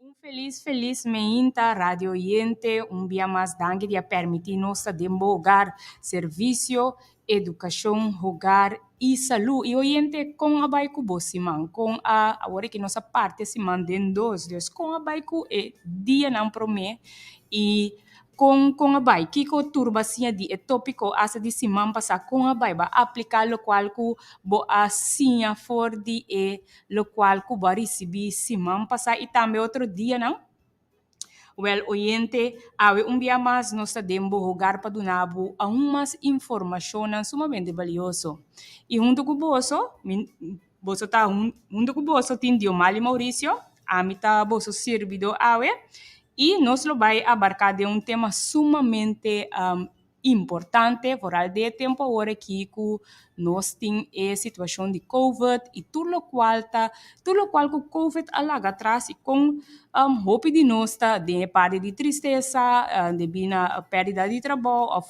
Un felis felis meinta radiooyente un bia mas danki di a permiti nos ta den bo hogar servicio educacion hogar y salud y oyente con a bay cu bo siman con a awor que nos a parti siman den dos dus con a bay cu e dia nan prome y con con a bay kico tur bo a siña di e topico hasta di siman pasa con a bay bo a aplica locual cu bo a siña for di e lo cual cu bo a ricibi siman pasá y tambe otro dianan? Wel, oyente, awe un bia mas nos ta den bo hogar pa duna bo aun mas informacionnan sumamente balioso. Y hunto cu boso, mi, boso ta, hunto cu boso tin Diomali Mauricio, ami ta boso sirbidó awe, y nos lo bay abarca den un tema sumamente. importante foral di e tempu aworakí ku nos tin e situashon di kovet i tur lokual ta tur lokual ku kovet a laga atras i kon hopi di nos ta den e parti di tristesa debí na pèrdida di trabou òf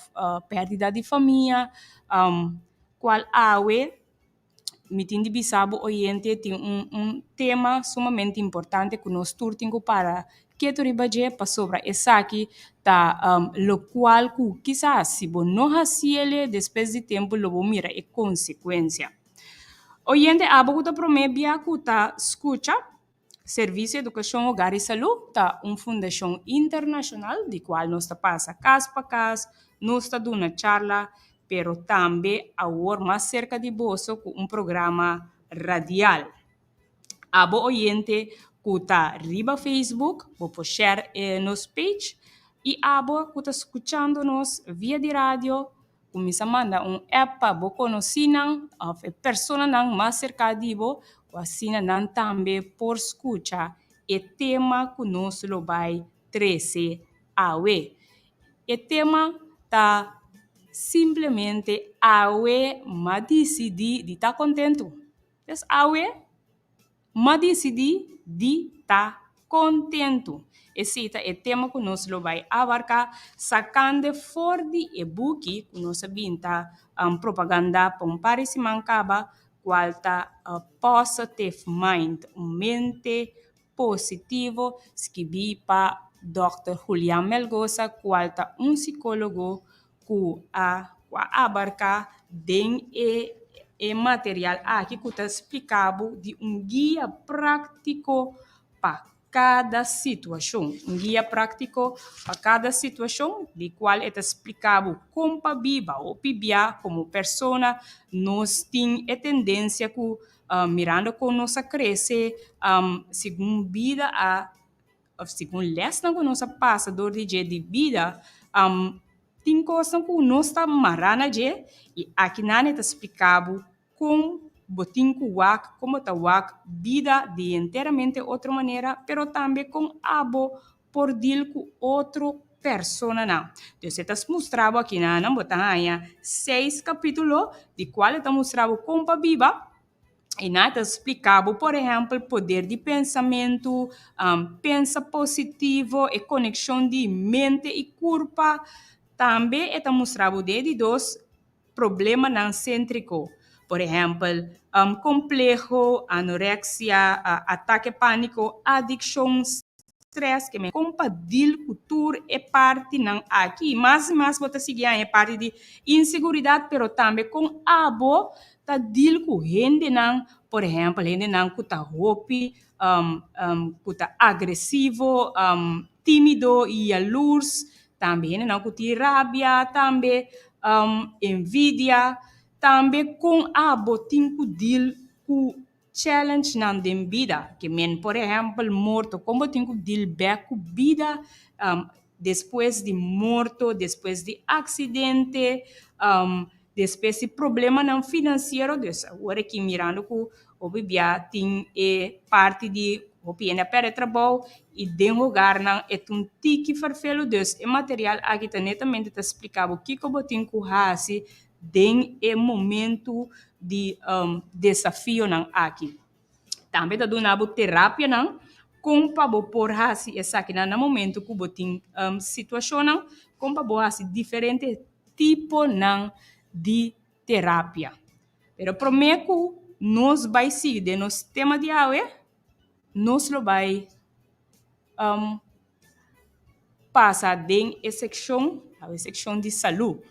pèrdida di famia kual awe. mi tin di bisa bo oyente tin un un tema sumamente importante ku nos tur tin ku para ketu riba dje pasobra esaki ta lokual ku kisas si bo no hasi ele despues di tempu lo bo mira e konsekuensia. Oyente abo ku ta promé bia ku ta skucha. Servisio Edukashon Hogar i Salú ta un fundashon internashonal di kual nos ta pasa kas pa kas, nos ta duna charla, pero tambe awor mas serka di boso ku un programa radial. A bo oyente ku ta riba Facebook bo por shèr e nos page i abo ku ta skuchando nos via di radio, Kuminsá manda un app pa bo konosínan òf e personanan mas serká di bo ku asina nan tambe por skucha e tema ku nos lo bai trese awe. E tema ta simplemente Awe m'a disidí di ta kontentu. Des awe M'a disidí di ta kontentu! Esei ta e tema ku nos lo bai abarká sakando for di e buki ku nos a bin ta propagandá pa un par di siman kaba, kual ta Positive Mind, Un Mente Positivo, skibí pa dòkter Julian Melgosa, kual ta un sikólogo ku a ku a abarká den e e material aki ku ta splika bo di un guia práktiko pa kada situashon. Un guia práktiko pa kada situashon di kual e ta splika bo kon pa biba o pibiá komo persona. Nos tin e tendensia ku mirando kon nos a krese segun bida a. Òf segun lèsnan ku nos a pasa dor di dje di bida, tin kosnan ku nos ta mará na dje i aki nan e ta spliká bo kon bo tin ku wak, kon bo ta wak bida di enteramente otro manera, pero tambe kon abo por dil ku otro personanan. Entonces e ta mustra bo aki nan, bo ta haña seis kapítulo di kual e ta mustra bo kon pa biba. I nan ta spliká bo, por ehèmpel, poder di pensamentu, pensa positivo, e konekshon di mente i kurpa. Tambe e ta mustra bo den e di dos problemanan séntriko, por ehèmpel, kompleho, anoreksia, atake pániko, adikshons. tres ke men kon pa dil ku tur e partinan aki. Mas i mas bo ta sigui haña e parti di inseguridat pero tambe kon abo ta dil ku hendenan, por ehèmpel hendenan ku ta hopi ku ta agresivo, timido i yalurs, tambe hendenan ku tin rabia, tambe envidia, tambe kon abo tin ku dil ku. Challenge nan den bida, ke men por ehèmpel morto, kon bo tin ku dil bèk ku bida despues di morto, despues di aksidente, despues di problemanan finansiero, dus awor aki mirando ku hopi bia tin e parti di hopi hende a pèrdè trabou i den hogarnan e ta un tiki farfelu, dus e material aki ta netamente ta splika bo kiko bo tin ku hasi. den e momentu di desafionan aki. Tambe ta duna bo terapianan kon pa bo por hasi esakinan na momentu ku bo tin situashonnan, kon pa bo hasi diferente tiponan di terapia. Pero promé ku nos bai sigui den nos tema di awe, nos lo bai. pasa den e sekshon, e sekshon di salú.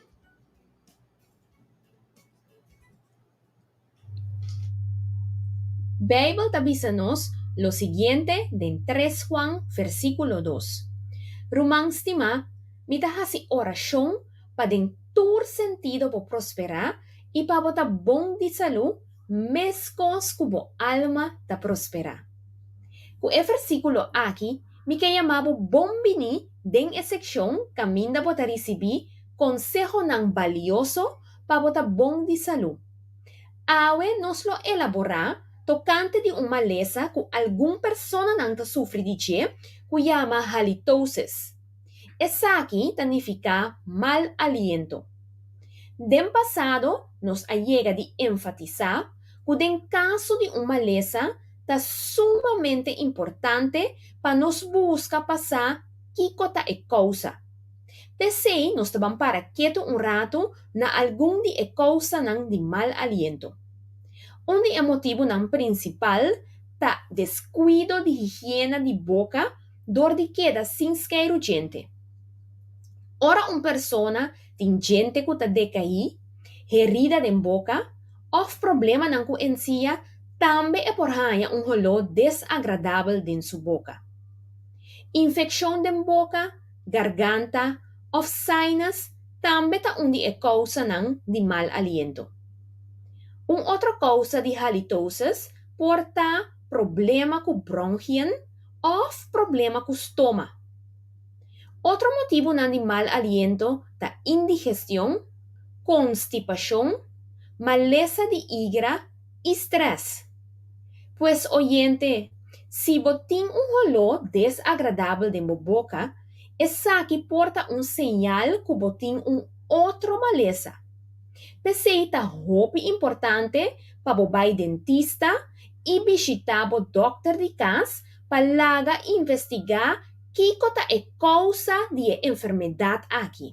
Beibel ta bisa nos lo siguiente den tres Huan versíkulo dos, Ruman stimá, mi ta hasi orashon pa den tur sentido bo prosperá i pa bo ta bon di salú, meskos ku bo alma ta prosperá. Ku e versíkulo aki mi ke yamá bo bon biní den e sekshon kaminda bo ta risibí konsehonan balioso pa bo ta bon di salú. Awe nos lo elaborá tokante di un malesa ku algun personanan ta sufri di dje ku yama halitosis. Esaki ta nifiká mal aliento. Den pasado nos a yega di enfatisá ku den kaso di un malesa ta sumamente importante pa nos buska pa sa kiko ta e kousa. P'esei nos ta ban para ketu un ratu na algun di e kousanan di mal aliento. Un di e motibunan prinsipal ta deskuido di higiena di boka dor di keda sin skei rujente. Ora un persona tin djente ku ta dekaí, herida den boka, òf problemanan ku ensia, tambe e por haña un holó desagradabel den su boka. Infekshon den boka, garganta, òf sinus tambe ta un di e kousanan di mal aliento. Un otro kousa di halitosis por ta problema ku bronhien òf problema ku stoma. Otro motibunan di mal aliento ta indigestion, konstipashon, malesa di igra i strès. Pues oyente, si bo tin un holó desagradabel den bo boka, esaki por ta un señal ku bo tin un otro malesa. P'esei ta hopi importante pa bo bai dentista i bishitá bo dòkter di kas pa laga investigá kiko ta e kousa di e enfermedat aki.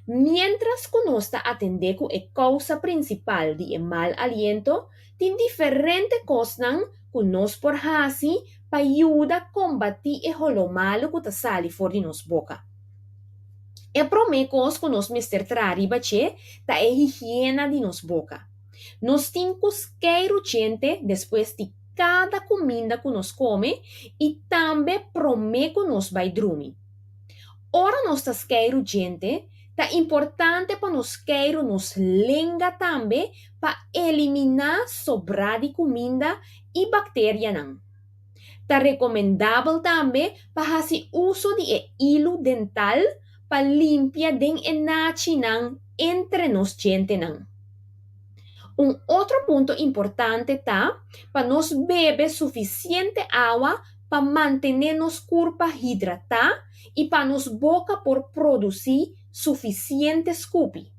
Miéntras ku nos ta atendé ku e kousa prinsipal di e mal aliento, tin diferente kosnan ku nos por hasi pa yuda kombatí e holomalu ku ta sali for di nos boka. E promé kos ku nos mester traha riba dje ta e higiena di nos boka. Nos tin ku skei ruchente despues di kada kuminda ku nos kome i tambe promé ku nos bai drumi. Ora nos ta skei ruchente, ta importante pa nos skei ru nos lenga tambe pa eliminá sobrá di kuminda i bakterianan. Ta rekomendabel tambe pa hasi uso di e ilu dental pa limpia den e nachinan entre nos djentenan. Un otro punto importante ta pa nos bebe sufisiente awa pa mantené nos kurpa hidratá i pa nos boka por produsí sufisiente skupi.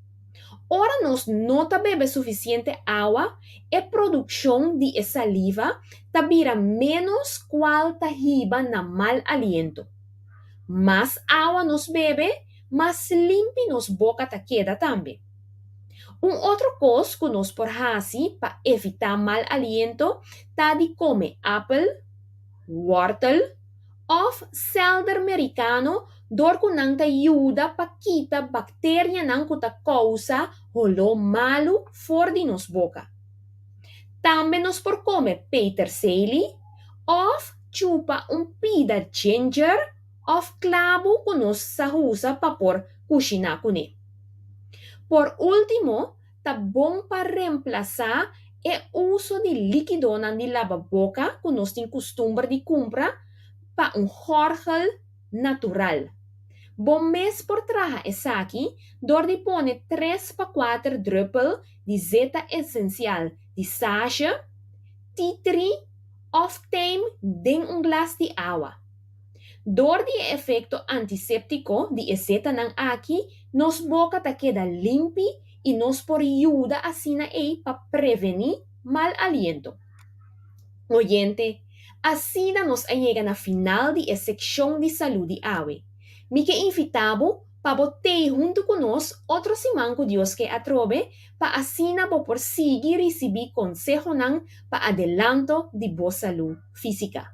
Ora nos no ta bebe sufisiente awa, e produccion di e saliva ta bira menos cual ta hiba na mal aliento. Mas awa nos bebe, mas limpi nos boca ta keda tambe. Un otro cos cu nos por haci pa evita mal aliento ta di come apel, wortel, òf sèlder merikano dor ku nan ta yuda pa kita bakterianan ku ta kousa holó malu for di nos boka. Tambe nos por kome peterseli òf chupa un pida ginger òf klabu ku nos sa usa pa por kushiná kuné. Por último, ta bon pa remplasá e uso di líkidonan di laba boka ku nos tin kustumber di kumpra pa un gòrgel natural. Bo mes por traha esaki dor di pone tres pa kuater drùpel di zeta esensial di sage, tea tree òf tijm den un glas di awa. Dor di e efekto antiséptiko di e setanan aki, nos boka ta keda limpi i nos por yuda asina ei pa prevení mal aliento. Oyente, asina nos a yega na final di e sekshon di salú di awe. Mi ke invitá bo pa bo tei huntu ku nos otro siman ku Dios ke atrobe pa asina bo por sigui risibí konsehonan pa adelanto di bo salú físika.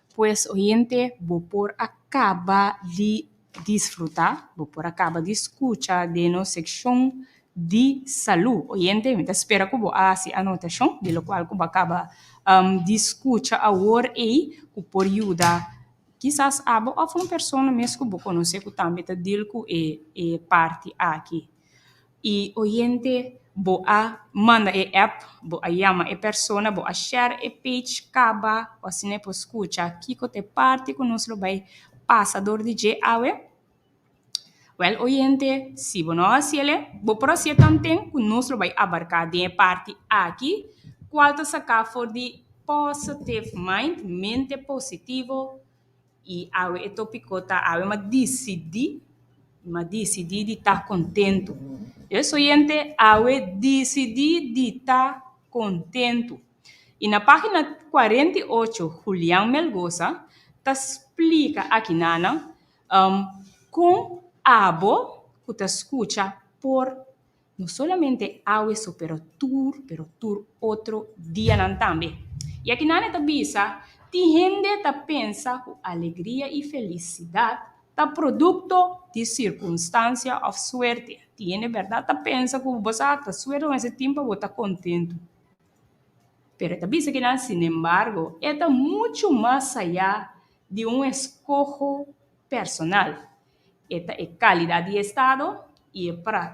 Pues oyente, bo por a kaba di disfrutá, bo por a kaba di skucha den nos sekshon di salú. Oyente, mi ta spera ku bo a hasi anotashon di lokual ku bo a kaba di skucha awor ei ku por yuda kisas abo òf un persona mes ku bo konosé ku tambe ta dil ku e parti aki. E oyente bo a manda e app, bo a yama e persona, bo a share e page kaba cu asina e por scucha kico ta e parti cu nos lo bay pasa dor di dje awe. Well oyente si bo no a haci ele bo por haci e tanten cu nos lo bay abarca den e parti aki cual ta saca for di positive mind, mente positivo. I awe e tópiko ta Awe m'a disidí, m'a disidí di ta kontentu. Por eso, yente, awe disidí di ta kontentu. I na página kuarenta i ocho Julian Melgosa ta splika aki nanan kon abo ku ta skucha por No solamente awe so pero tur, pero tur otro dianan tambe. I aki Nane ta bisa, Tin hende ta pensa ku alegria i felisidat ta produkto di sirkunstansia òf suerte. Tin hende bèrdat ta pensa ku bo sa ta suerte kon esei tin pa bo ta kontentu. Pero e ta bisa kinan, Sinembargo, e ta muchu mas saya di un eskoho personal. E ta e kalidat di e estado i e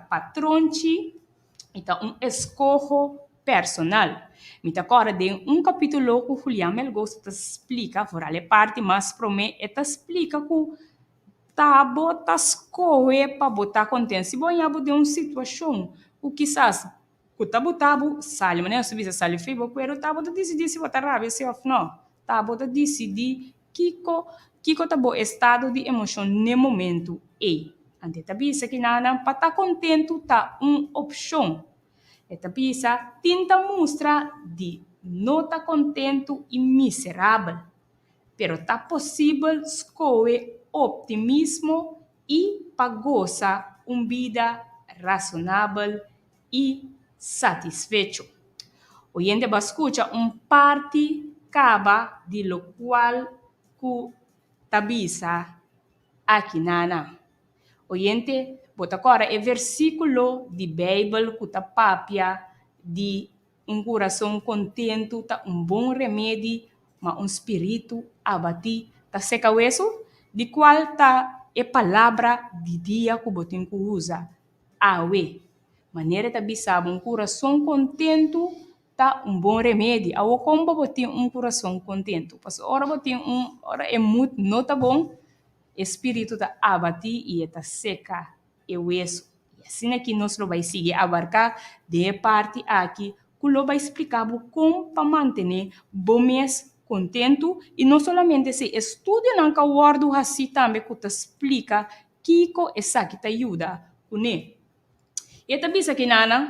patron chi i ta un eskoho personal. Mi ta kòrda den un kapítulo ku Julian Melgosa ta splika, foral e parti mas promé, e ta splika ku ta bo ta skohe pa bo ta kontent. Si bo a haña bo den un situashon ku kisas. ku ta bo tabu sali manera su bisa sali fi bo kueru tabo ta disidi si bo ta rabia si of no tabo ta disidi kiko kiko ta bo estado di emocion n'e momento ey anto e ta bisa ki nannan pa ta contento ta un opcion e ta bisa tin ta mustra di no ta contento y miserabel pero ta posibel scohe optimismo i pa gosa un bida rasonabel i satisfecho. Oyente ba skucha un parti kaba di lokual ku ta bisa aki na nan. Oyente, bo ta kòrda e versíkulo di Beibel ku ta papia di Un kurason kontentu ta un bon remedi, ma un spiritu abatí ta seka wesu. Di kual ta e palabra di dia ku bo tin ku usa awe? Manera e ta bisa bo, un kurason kontentu ta un bon remedi. Awor kon bo por tin un kurason kontentu? Pasobra ora bo tin un, ora e mut no ta bon, e spiritu ta abatí i e ta seka. e hueso. I asina ki nos lo bai sigui abarká den e parti aki ku lo bai spliká bo kon pa mantené bo mes kontentu i no solamente si e studionan ka wòrdu hasí tambe ku ta splika kiko esaki ta yuda kuné. E ta bisa ki nan nan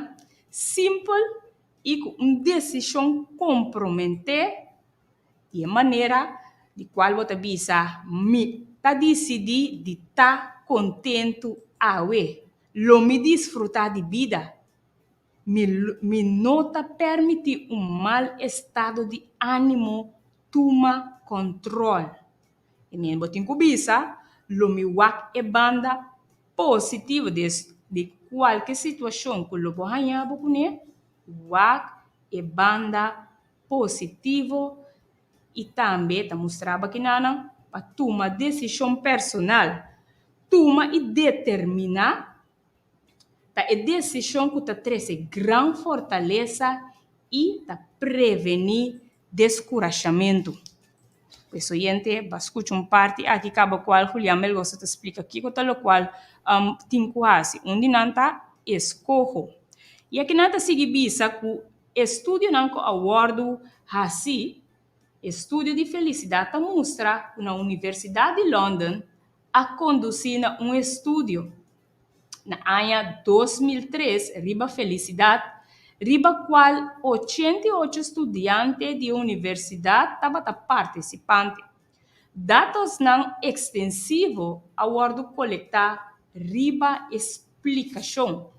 simpel i ku un desishon komprometé di e manera di kual bo ta bisa, Mi ta disidí di ta kontentu awe. Lo mi disfrutá di bida. Mi mi no ta permití un mal estado di ánimo tuma kòntròl. I mi bo tin ku bisa, lo mi wak e banda positivo di es, di kualke situashon ku lo bo haña bo kuné, wak e banda positivo i tambe ta mustra bakinannan pa tuma desishon personal, tuma i determiná. Ta e desishon ku ta trese gran fortalesa i ta prevení deskurashamentu. Pues oyente, bo a skucha un parti aki kaba kual Julian Melgosa ta splika kiko ta lokual tin ku hasi. Un di nan ta eskoho. I aki nan ta sigui bisa ku e studionan ku a wòrdu hasi E studio di felisidad ta mustra cu na Universidad di London a conduci na un estudio na aña dos mil tres riba felicidad riba cual ochenta y ocho studiante di universidad tabata participante. Datosnan ekstensivo a wòrdu kolektá riba e splikashon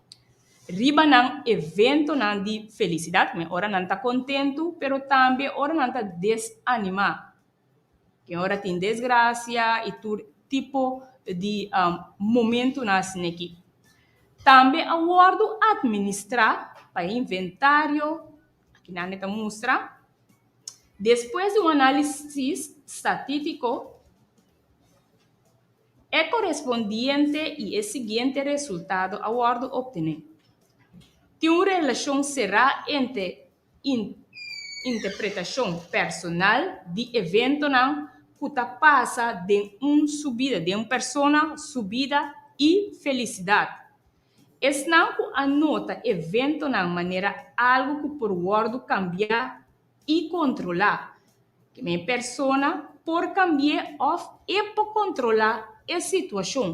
riba nan eventonan di felisidat, kumé ora nan ta kontentu, pero tambe ora nan ta desanimá, ke ora tin desgrasia i tur tipo di momentunan asina aki. Tambe a wòrdu atministrá pa e inventario. Aki nan e ta mustra. Despues di un análisis statítico, e korespondiente i e siguiente resultado a wòrdu optené. Tin un relashon será entre interpretashon personal di eventonan ku ta pasa den un subida, den un persona subida i felisidat. Esnan ku a nota eventonan manera algu ku por wòrdu kambiá i kontrolá. Kende e persona por kambi'é òf e por kontrolá e situashon.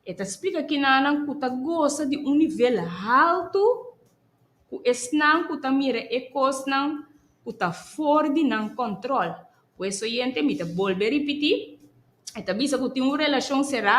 E ta splika kinanan ku ta gosa di un nivel haltu ku esnan ku ta mira e kosnan ku ta for di nan kòntròl. Ku es oyente mi ta bolbe ripití, e ta bisa ku tin un relashon será.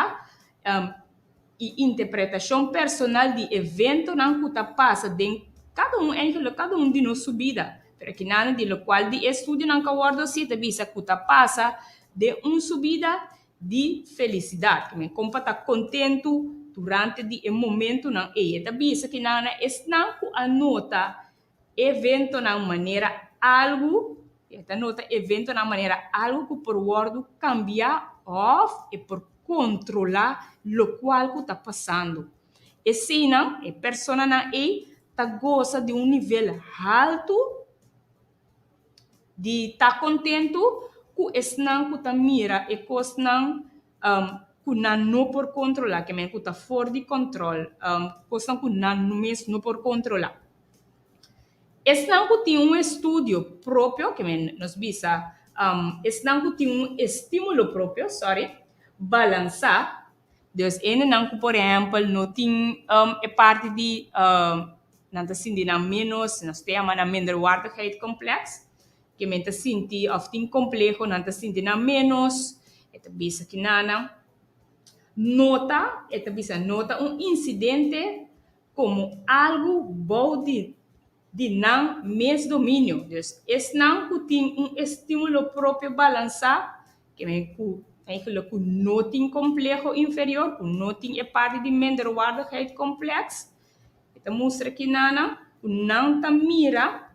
i interpretashon personal di eventonan ku ta pasa den kada un enkele, kada un di nos su bida. Pero aki nan di lokual di e studionan ka wòrdu así ta bisa ku ta pasa den un su bida di felisidat, ku men kompa ta kontentu durante di e momentunan ei. E ta bisa ki nan esnan ku a nota eventonan manera algu, e ta nota eventonan manera algu ku por wòrdu kambia òf e por kontrolá lokual ku ta pasando. Eseinan, e personanan ei ta gosa di un nivel haltu di ta kontentu ku esnan ku ta mira e kosnan. ku nan no por kontrolá, kèmen ku ta for di kòntròl, kosnan ku nan mes no por kontrolá. Esnan ku tin un estudio propio, kèmen nos bisa esnan ku tin un estímulo propio, sòri, balansá, dus hendenan ku por ehèmpel no tin e parti di nan ta sinti nan ménos, nos ta yama nan minderwaardigheidkomplèks, ke men ta sinti òf tin kompleho, nan ta sinti nan ménos, e ta bisa ki nana nota, e ta bisa nota un insidente komo algu bou di di nan mes dominio. Dus esnan ku tin un estímulo propio balansá, ke men ku eigenlijk ku no tin kompleho inferior, ku no tin e parti di minderwaardigheid-complex, e ta mustra ki nana ku nan ta mira,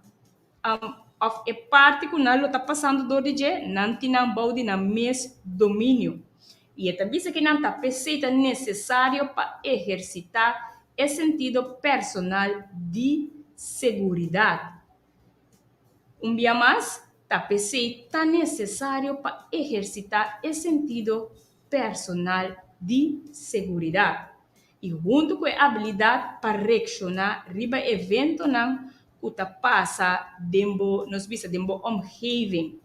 òf e parti ku nan lo ta pasando dor di dje, nan tin nan bou di nan mes dominio. I e ta bisa ku nan ta pes'é i ta nesesario pa ehersitá e sentido personal di seguridat. Un bia mas, ta pes'é i ta nesesario pa ehersitá e sentido personal di seguridat. i huntu ku e abilidat pa reakshoná riba eventonan ku ta pasa den bo, nos bisa den bo omgeving.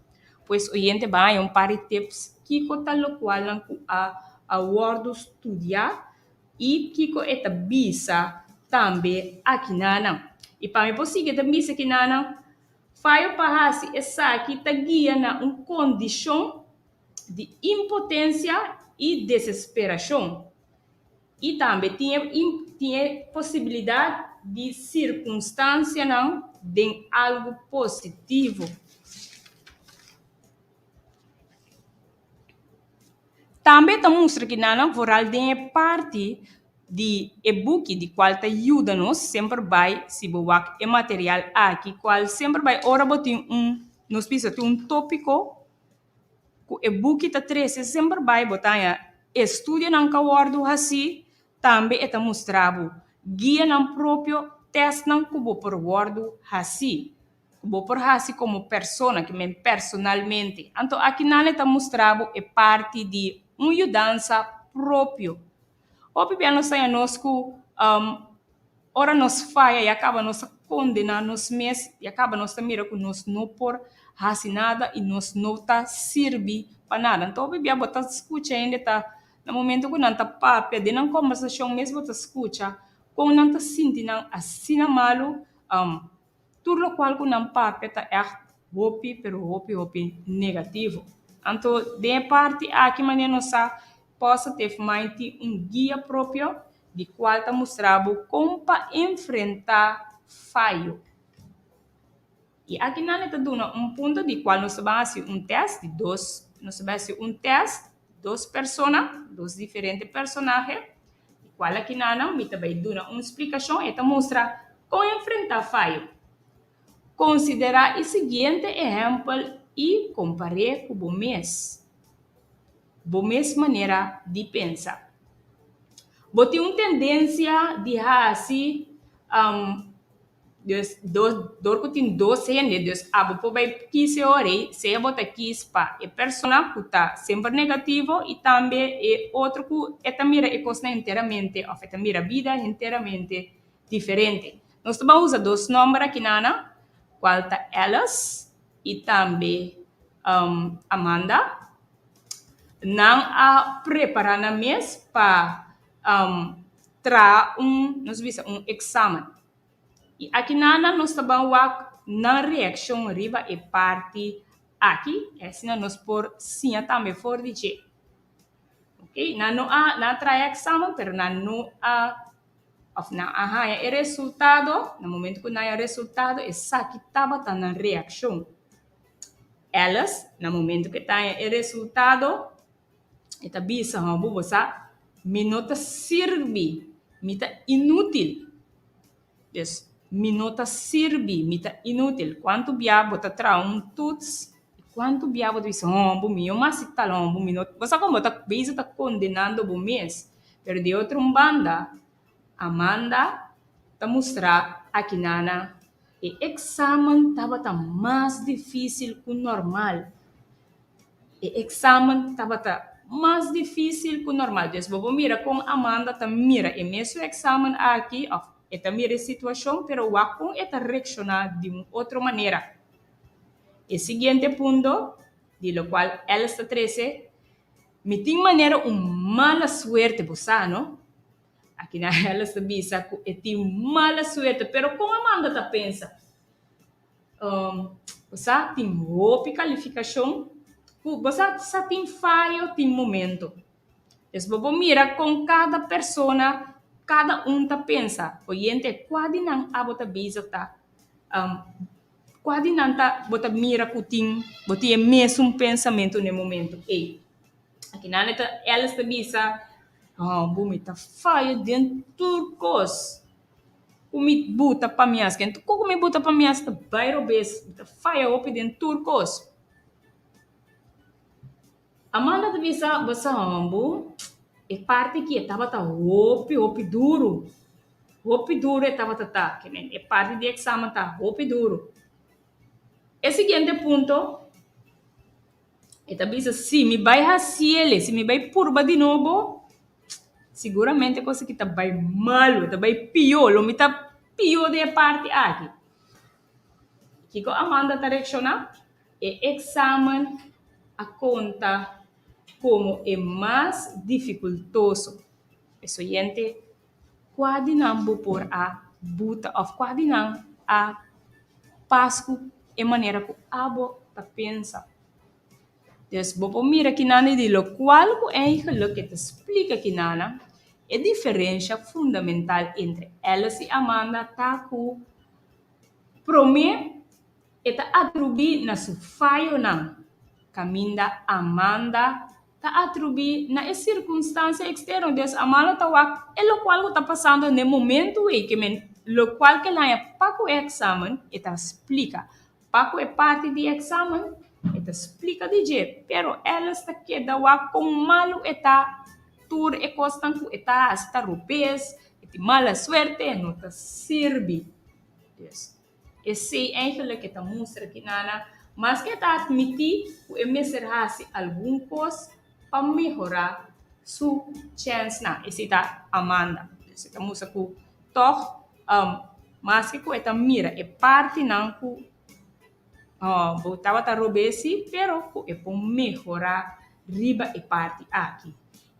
Pues oyente ban haña un par di tips kiko ta lokualnan ku a a wòrdu studiá i kiko e ta bisa tambe akinanan. I pa mi por sigui ta bisa akinanan, Fayo pa hasi esaki ta guia na un kondishon di impotensia i desesperashon, i tambe tin e tin e posibilidat di sirkunstansianan den algu positivo. Tambe e ta mustra ki nan a foral den e parti di e buki di kual ta yuda nos semper bai si bo wak e material aki kual semper bai ora bo tin un nos bisa tin un tópiko. ku e buki ta trese semper bai bo taña e studionan ka wòrdu hasí tambe e ta mustra bo guianan propio tèstnan ku bo por wòrdu hasí ku bo por hasi komo persona ki men personalmente anto aki nan e ta mustra bo e parti di un yudansa propio. Hopi bia nos ta haya nos ku ora nos faya ya kaba nos ta kondena nos mes, ya kaba nos ta mira ku nos no por hasi nada i nos no ta sirbi pa nada. Anto hopi bia bo ta skucha hende ta na momento ku nan ta papia den nan kombersashon mes bo ta skucha kon nan ta sinti nan asina malu. Tur lokual ku nan papia ta ègt hopi, pero hopi hopi negativo. Anto den e parti aki manera nos sa Pòster Tef Mind tin un guia propio di kual ta mustra bo kon pa enfrentá fayo. I aki nan e ta duna un punto di kual nos ta ban hasi un tèst di dos. Nos ta bai hasi un tèst. Dos persona, dos diferente personahe, di cual aki nanan mi ta bay duna un splicacion, e ta mustra con enfrenta fayo. Considera e siguiente ehempel y compare cu bo mes, bo mes manera di pensa. Bo tin un tendencia di hasi. Dus dos dor ku tin dos hende, dus abo por bai kise ora ei, sea bo ta kis pa e persona ku ta semper negativo i tambe e otro ku e ta mira e kosnan enteramente òf e ta mira bida enteramente diferente. Nos ta ban usa dos nòmber aki nana, kual ta Ellis i tambe Amanda. Nan a prepará nan mes pa. traha un nos ta bisa un examen y aki nan nan nos ta ban wak nan reaccion riba e parti aki asina nos por siña tambe for di dje ok nan no a nan a traha e examen pero nan no a of nan a haña e resultado na momento ku nan haña e resultado esaki tabata nan reaccion Alice na momento ku e ta haña e resultado E ta bisa, Hobo, bo sa mi no ta sirbi, mi ta inútil. Des, mi no ta sirbi, mi ta inútil. Kuantu bia bo ta traha un tuts i kuantu bia bo ta bisa, Hobo, mi no mas tal hobo, mi no. Bo sa kua? Bo ta beza ta kondenando bo mes. Pero di e otro un banda. Amanda ta mustra Akinana e eksamen tabata mas difísil ku normal. E eksamen tabata mas difísil ku normal. Des bo por mira kon Amanda ta mira e mesun eksamen aki òf e ta mira e situashon pero wak kon e ta reakshoná di un otro manera. E siguiente punto di lokual Ellis ta trese. Mi tin manera un mala suerte bo sa no? Akina Alice ta bisa ku e tin mala suerte, pero kon Amanda ta pensa? Um, bo sa, tin hopi kalifikashon ku bo sa sa tin fayo tin momento. Pues bo por mira kon kada persona, kada un ta pensa oyente kua di nan abo ta bisa ta um. Kua di nan ta bo ta mira ku tin bo tin e mesun pensamentu na e momentu ei? Aki nan e ta Alice ta bisa, Abo mi ta faya den tur kos ku mi buta pa mi as. Kende ku mi buta pa mi as ta bai robes, mi ta faya hopi den tur kos. Amanda ta bisa, Bo sa hòmber, e parti ki e tabata hopi, hopi duru. Hopi duru e tabata ta. Ke men, e parti di eksamen ta hopi duru. E siguiente punto, e ta bisa, Si mi bai hasi el'e, si mi bai purba di nobo, siguramente kos aki ta bai malu, ta bai pió, lo mi ta pió den e parti aki. Kiko Amanda ta reakshoná? E eksamen a konta komo e mas difikultoso. Pues oyente, kua di nan bo por a buta òf kua di nan a pas ku e manera ku abo ta pensa? Pues bo por mira kinami di lokual ku Engeluk e ta splika kinanan, e diferensha fundamental entre Alice i Amanda ta ku promé, E ta atrubí na su fayonan, kaminda Amanda ta atrubí na e sirkunstansia eksterno di es Amanda ta wak e lokual ku ta pasando n'e momentu ei ke men lokual ke el haña pa ku e eksamen e ta splika pa ku e parti di eksamen e ta splika di dje pero Alice ta keda wak kon malu e ta tur e kosnan ku e ta hasi ta rupes e tin mala suerte e no ta sirbi. E seis engelnan ke ta mustra ki nana, maske e ta atmití ku e mester hasi algun kos pa mehorá su chènsnan, e sita Amanda. Pues e ta mustra ku tòg, maske ku e ta mira e partinan ku bo tabata rob'é sí, pero ku e por mehorá riba e parti aki.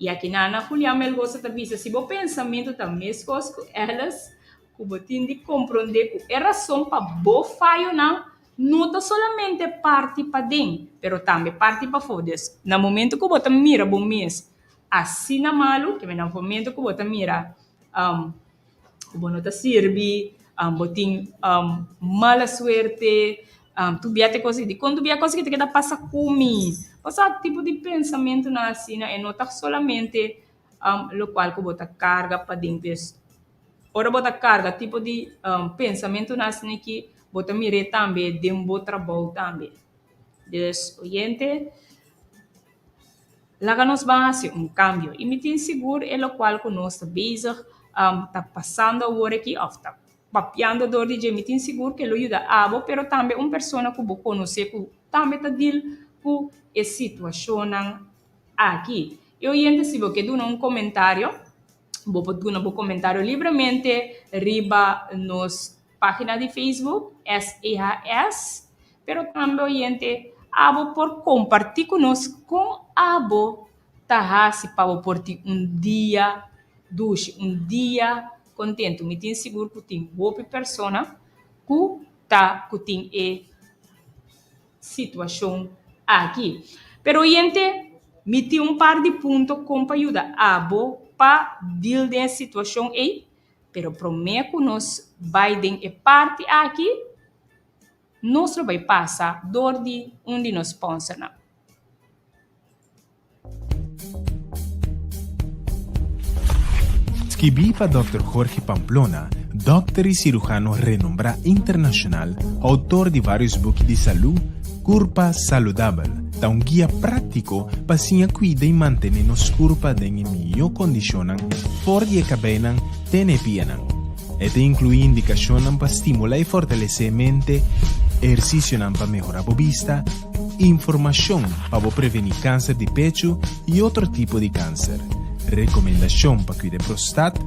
I aki Nana Julián Melgosa ta bisa, si bo pensamentu ta meskos ku eles, ku bo tin di komprondé ku e rason pa bo fayonan no ta solamente parti paden, pero tambe parti pafó. Des, na momentu ku bo ta mira bo mes asina malu, kiminda momentu ku bo ta mira. ku bo no ta sirbi, bo tin mala suerte, dubia t'e kos di, kon dubia e kos di ke ta keda pasa ku mi? Bo sa tipo di pensamentunan asina e no ta solamente lokual ku bo ta karga padentu es, ora bo ta karga tipo di pensamentunan asina aki bo ta mir'e tambe den bo trabou tambe. Des oyente. Laga nos ban hasi un kambio i mi tin sigur e lokual ku nos ta bezig ta pasando awor aki òf ta papiando dor di dje mi tin sigur ku e lo yuda abo pero tambe un persona ku bo konosé ku tambe ta dil ku e situashonnan aki. E oyente si bo ke duna un komentario. Bo por duna bo comentario libremente riba nos pagina di Facebook SEHS, pero tambe oyente abo por comparti cu nos con abo ta haci pa bo por tin un dia dushi, un dia contento. Mi tin sigur cu tin hopi persona cu ta cu tin e. situacion aki. Pero oyente, mi tin un par di punto con pa yuda abo pa deal den e situacion ey, pero prome cu nos bay den e parti aki, nos lo bay pasa door di un di nos sponsornan. Skibí pa Dòkter Jorge Pamplona, dòkter i sirujano renombrá internashonal, outor di vários buki di salú, Kurpa Saludabel ta un guia práktiko pa siña kuida i mantené nos kurpa den e mihó kondishonnan for di e kabeinan te na e pianan. E ta inkluí indikashonnan pa stimulá i fortalesé e mente, ehersisionan pa mehorá bo bista, Informashon pa bo prevení kanser di pechu i otro tipo di kanser. Rekomendashon pa kuida e prostat.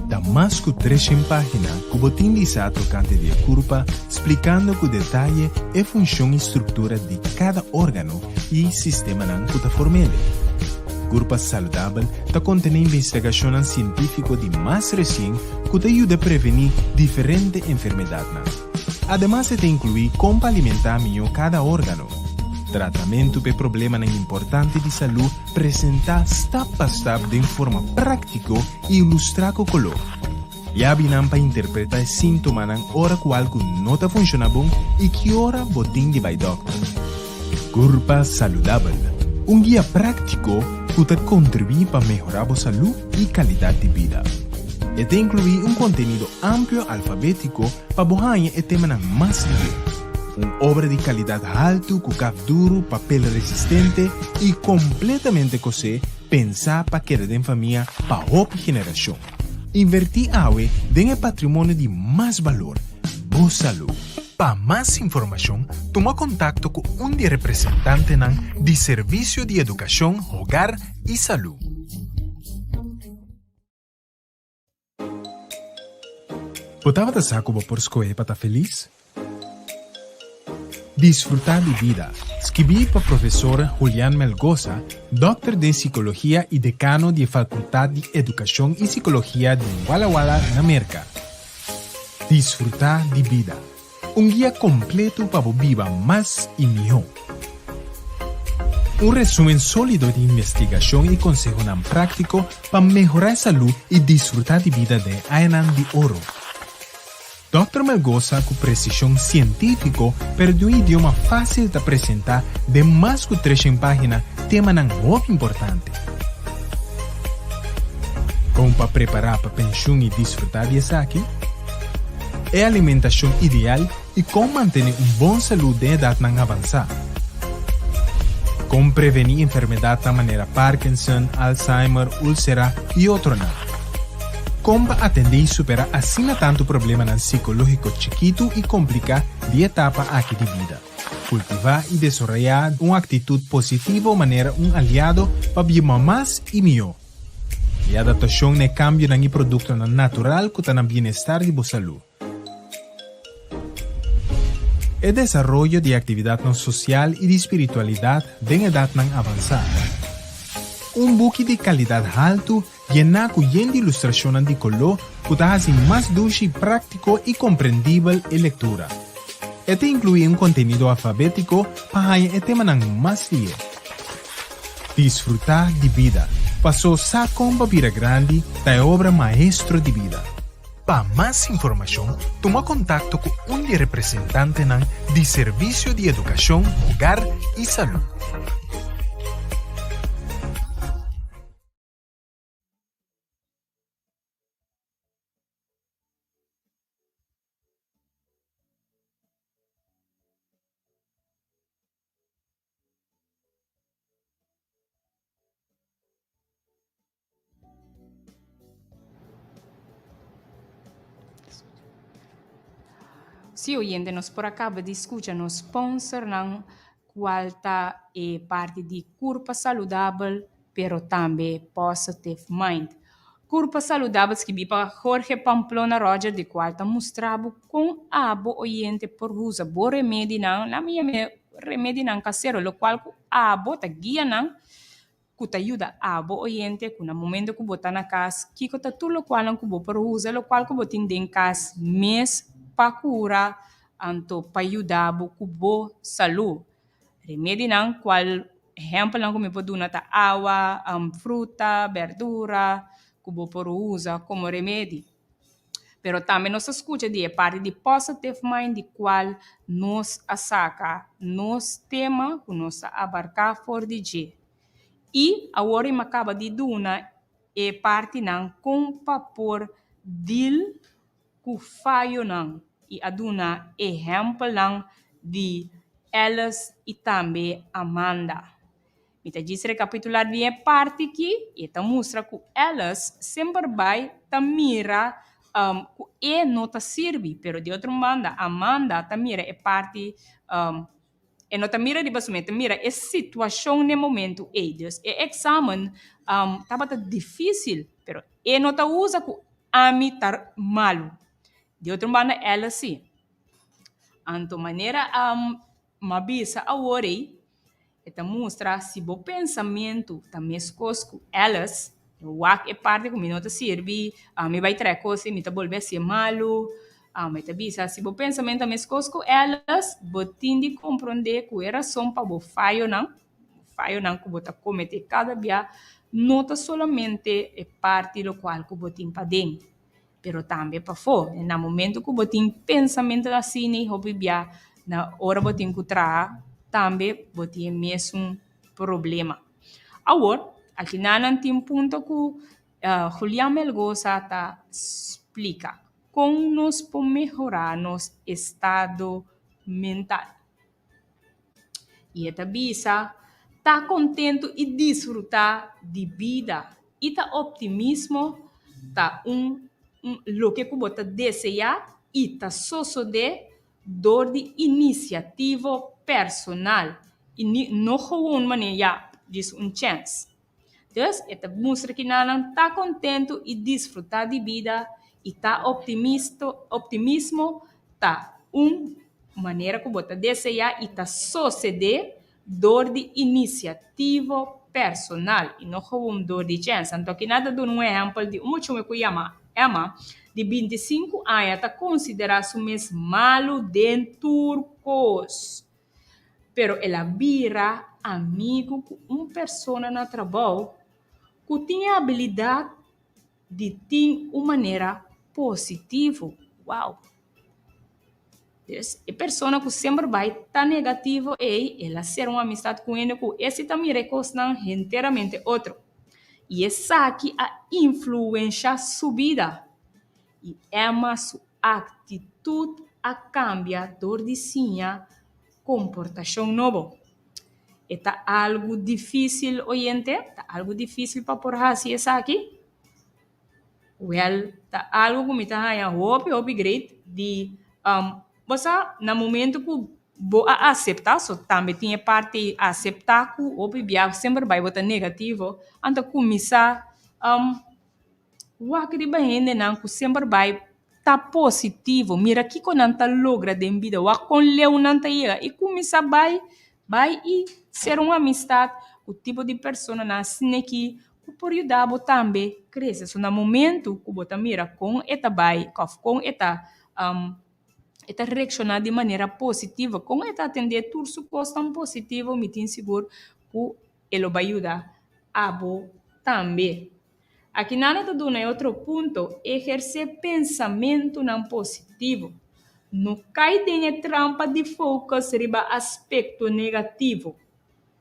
Ta mas ku treshen página ku bo tin disá tokante di e kurpa, splikando ku detaye e funshon i struktura di kada órgano i sistemanan ku ta form'e. Kurpa Saludabel ta kontené investigashonnan sientífiko di mas resien ku ta yuda prevení diferente enfermedatnan. Ademas e ta inkluí kon pa alimentá mihó kada órgano. Tratamentu p'e problemanan importante di salú presentá stap pa stap den forma práktiko i ilustrá ku koló. Yabi nan pa interpretá e síntomanan ora ku algu no ta funshoná bon i ki ora bo tin di bai dòkter. Gurpa Saludabel, un guia práktiko ku ta kontribuí pa mehorá bo salú i kalidat di bida. E ta inkluí un kontenido amplio alfabétiko pa bo haña e temanan mas lié, un obra di kalidat haltu ku kap duru, papel resistente i kompletamente kosé pensá pa keda den famia pa hopi generashon. Invertí awe den e patrimonio di mas balor, bo salú. Pa mas informashon tuma kontakto ku un di e representantenan di Servisio di Edukashon, Hogar i Salú. Bo tabata sa ku bo por skohe pa ta felis? Disfrutá di bida, skibí pa Profesor Julian Melgosa, dòkter den Sikologia i Dekano di e Falkultat di Edukashon i Sikologia den Walla Walla na Merka. Disfrutá di bida, un guia kompletu pa bo biba mas i mihó. Un resúmen sólido di investigashon i konsehonan práktiko pa mehorá e salú i disfrutá di bida den añanan di oro. Dòkter Melgosa ku presishon sientífiko pero di un idioma fásil ta presentá den mas ku treshen página temanan hopi importante. Kon pa prepará pa penshun i disfrutá di esaki? E alimentashon ideal i kon mantené un bon salú den edatnan avansá? Kon prevení enfermedatnan manera Parkinson, Alzheimer, úlsera i otronan? Kon pa atendé i superá asina tantu problemanan sikológiko chikitu i kompliká di e etapa aki di bida? Kultivá i desorayá un aktitut positivo manera un aliado pa biuma mas i mihó. Di adaptashon na e kambionan i produktonan natural ku ta na bienestar di bo salú. E desaroyo di aktividatnan sosial i di spiritualidat den edatnan avansá. Un buki di kalidat haltu yená ku yen di ilustrashonnan di koló ku ta hasi mas dushi, práktiko i komprendibel e lektura. E ta inkluí un kontenido alfabétiko pa haña e temanan mas lié. Disfrutá di bida, Pasó sa kon pa bira grandi ta e obra maestro di bida. Pa mas informashon tuma kontakto ku un di representantenan di Servisio di Edukashon, Hogar i Salú. Si oyente nos por a kaba di skucha nos sponsornan kual ta e parti di Kurpa Saludabel pero tambe Positiv Mind. Kurpa Saludabel skibi pa Jorge Pamplona Roger di kual ta mustra bo kon abo oyente por usa bo remedinan, la mi yam'e remedinan kasero, lokual ku abo ta guia nan. ku ta yuda abo oyente ku na momento ku bo ta na kas kiko ta tur lokualnan ku bo por usa lokual ku bo tin den kas mes pa kura anto pa yuda bo ku bo salu remedinan kual ehempelnan ku mi por duna ta awa fruta berdura ku bo por usa komo remedi. Pero tambe nos a skucha di e parti di positive mind di kual nos a saka nos tema ku nos ta abarká for di dje. I awor i m'a kaba di duna e partinan kon pa por dil ku fayonan i a duna ehèmpelnan di Alice i tambe Amanda. Mi ta djis rekapitular bien e parti ki i e ta mustra ku Alice semper bai ta mira ku e no ta sirbi. Pero di otro banda, Amanda ta mira e parti, e no ta mira riba su mes, e ta mira e situashon na e momentu ei. Dus e eksamen tabata difísil, pero e no ta usa ku ami ta malu. Di otro banda, Alice sí. Anto manera. M'a bisa awor ei, e ta mustra si bo pensamentu ta meskos ku Alice, mi wak e parti ku mi no ta sirbi, mi bai trè kos i mi ta bolbe hasié malu. E ta bisa, si bo pensamentu ta meskos ku Alice, bo tin di komprondé ku e rason pa bo fayonan, fayonan ku bo ta kometé kada bia, no ta solamente e parti lokual ku bo tin paden. pero tambe pafó. Na momento ku bo tin pensamentu asina hopi bia na ora bo tin ku traha tambe bo tin e mesun problema. Awor al finalnan tin punto ku Julian Melgosa ta splika kon nos por mehorá nos estado mental. I e ta bisa, Ta kontentu i disfrutá di bida i ta optimismo ta un loke ku bo ta deseá i ta sosodé dor di inisiativo personal i no, no, gewoon manera ya dis un chèns. Dùs, e ta mustra ku nannan ta kontentu i disfrutá di bida i ta optimisto. Optimismo ta un manera ku bo ta deseá i ta sosede dor di inisiativo personal i no kaun dor di chensa. Anto aki nan ta duna un ehèmpel di un muchungu ku yama Emma, di binti sinku aña, ta konsiderá su mes malu den tur kos. pero el a bira amigu ku un persona na trabou ku tin e abilidat di tin un manera positivo. Wow! Pes, e persona ku semper bai ta negativo ei, el a ser un amistat ku hende ku e si ta mira e kosnan henteramente otro. I esaki a influensha su bida. i Emma su aktitut a kambia dor di siña komportashon nobo. E ta algu difísil, oyente, ta algu difísil pa por hasi esaki. Wèl, ta algu ku mi ta haña hopi, hopi greit di um bo sa na momentu ku bo a aseptá, so tambe tin e parti aseptá ku hopi bia semper bai bo ta negativo, anto kuminsá um Wak di bahendenan ku semper bai ta positivo. Mira kiko nan ta logra den bida. Wak kon leu nan ta yega. I kuminsá bai, bai i ser un amistat ku tipo di personanan sina ki ku por yuda bo tambe krese. So na momentu ku bo ta mira kon e ta bai òf kon e ta e ta reakshoná di manera positivo, kon e ta atendé tur su kosnan positivo, mi tin sigur ku e lo bai yuda abo tambe. Aki nan lo ta duna e otro punto, ehersé pensamentunan positivo. No kai den e trampa di focus riba aspecto negativo,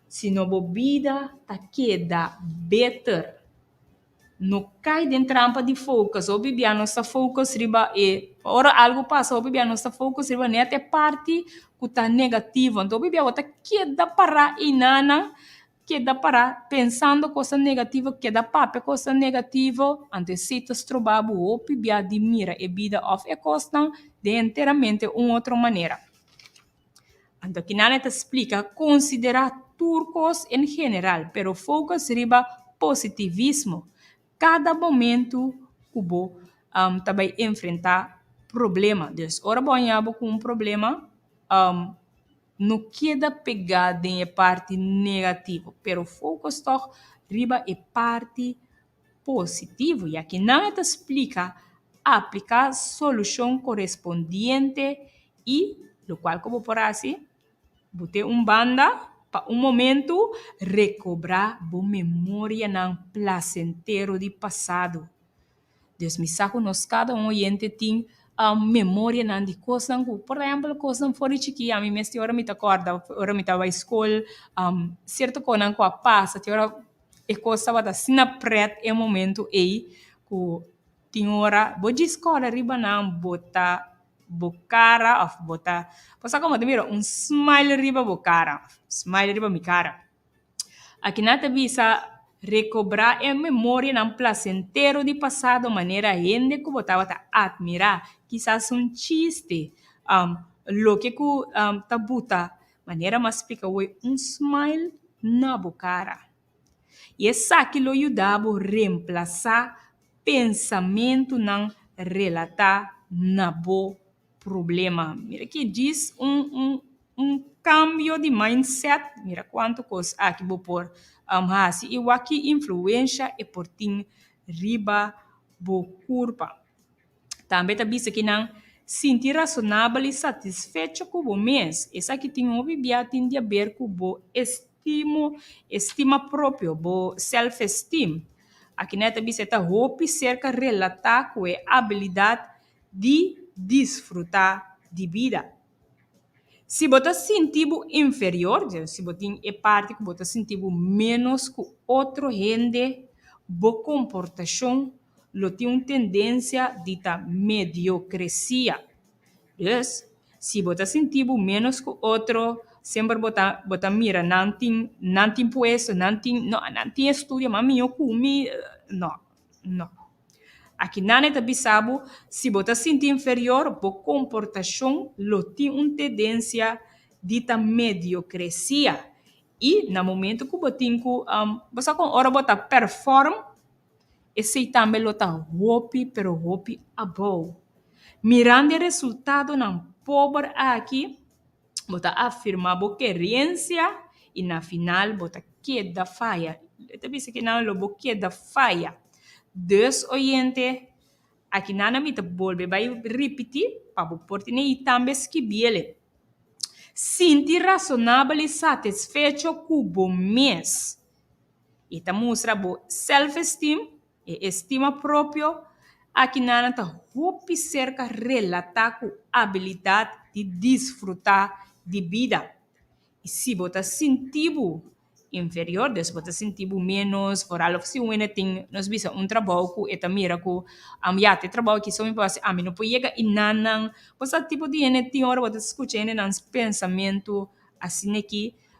sino bo bida ta keda beter. No kai den trampa di focus. Hopi bia nos ta focus riba e, ora algu pasa hopi bia nos ta focus riba net e parti cu ta negativo. Anto hopi bia bo ta keda pará einan nan, keda pará pensando cosa negativo, keda papia cosa negativo, anto esei ta stroba bo hopi bia di mira e bida of e cosnan den enteramente un otro manera. Anto kina nan e ta splika, Konsiderá tur kos en general, pero fokus riba positivismo kada momentu ku bo ta bai enfrentá problema. Des ora bo a haña bo ku un problema, no keda pegá den e parti negativo, pero fokus tòg riba e parti. positivo, ya ki nan e ta splika apliká solushon korespondiente i lokual ku bo por hasi, bo te un banda pa un momentu rekobrá bo memorianan plasentero di pasado. Dios mi sa ku nos kada un oyente tin memorianan di kosnan ku, por ehèmpel kosnan for di chikí, ami mes tin ora mi ta kòrda ora mi tabata skol, sierto kosnan ku a pasa tin ora. E kos tabata asina prèt e momentu ei ku tin ora bo djis kòrda riba nan bota bo kara òf bota bo sa kòmo ta mira un smile riba bo kara smile riba mi kara a kina ta bisa rekobrá e memorianan plasentero di pasado manera hende ku bo tabata atmirá kisas un chiste loke ku ta buta. Manera mas spika hoy un smile na bo cara. I esaki lo yuda bo remplasá pensamentunan relatá na bo problema. Mira ki djis un un un kambio di mindset! Mira kuantu kos aki bo por hasi i wak ki influensha e por tin riba bo kurpa. Tambe ta bisa ki nan sinti rasonabel i satisfecho ku bo mes. Esaki tin hopi bia tin di aber ku bo estimo, estima propio, bo self-esteem. Akiné e ta bisa e ta hopi serka relatá ku e abilidat di disfrutá di bida. Si bo ta sinti bo inferior, si bo tin e parti ku bo ta sinti bo ménos ku otro hende, bo komportashon. lo tin un tendensia di ta mediokresia. Dus, si bo ta sinti bo ménos ku otro, semper bo ta bo ta mira nan tin nan tin puesto, nan tin no nan tin estudio mas mihó ku mi, no no. Aki nan e ta bisa bo si bo ta sinti inferior bo komportashon lo tin un tendensia di ta mediokresia i na momentu ku bo tin ku bo sa kon ora bo ta perform. Esei tambe lo ta hopi, pero hopi abou. Mirando e resultadonan pober aki, bo ta afirmá bo kerensia i na final bo ta keda faya. Lo ta bisa ke nan lo bo keda faya. Dus, oyente, aki nan a mi ta bolbe bai ripití pa bo por tene i tambe skibi el e. Sinti rasonabel i satisfecho ku bo mes. I ta mustra bo self-esteem, e estima propio, aki nan ta hopi serka relatá ku abilidat di disfrutá di bida. I si bo ta sinti bo inferior, des bo ta sinti bo ménos, foral òf si un hende tin, nos bisa, un trabou ku e ta mira ku, am ya, te trabou aki so mi por hasi, ami no por yega i nan nan. Bo sa tipo di hende tin, ora bo ta skucha hendenan pensamentu asin'e ki.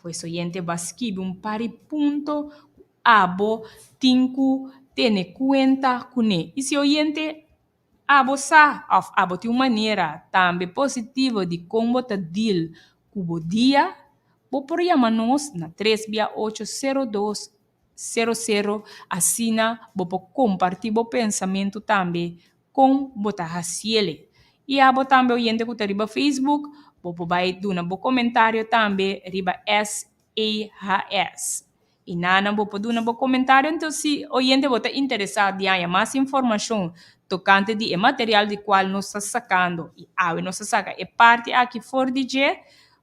Pues oyente ba skibi un par di punto ku abo tin ku tene kuenta kuné. I si oyente abo sa òf abo tin un manera tambe positivo di kon bo ta deal ku bo dia, bo por yama nos na tres bia ocho sero dos sero sero asina bo por kompartí bo pensamentu tambe kon bo ta hasiel. I a bo tambe oyente ku ta riba facebook bo por bai duna bo komentario tambe riba SAHS. I nan bo por duna bo komentario enton si oyente bo ta interesá di haña mas informashon tokante di e material di kual nos ta sakando i awe nos ta saka e parti aki for di dje,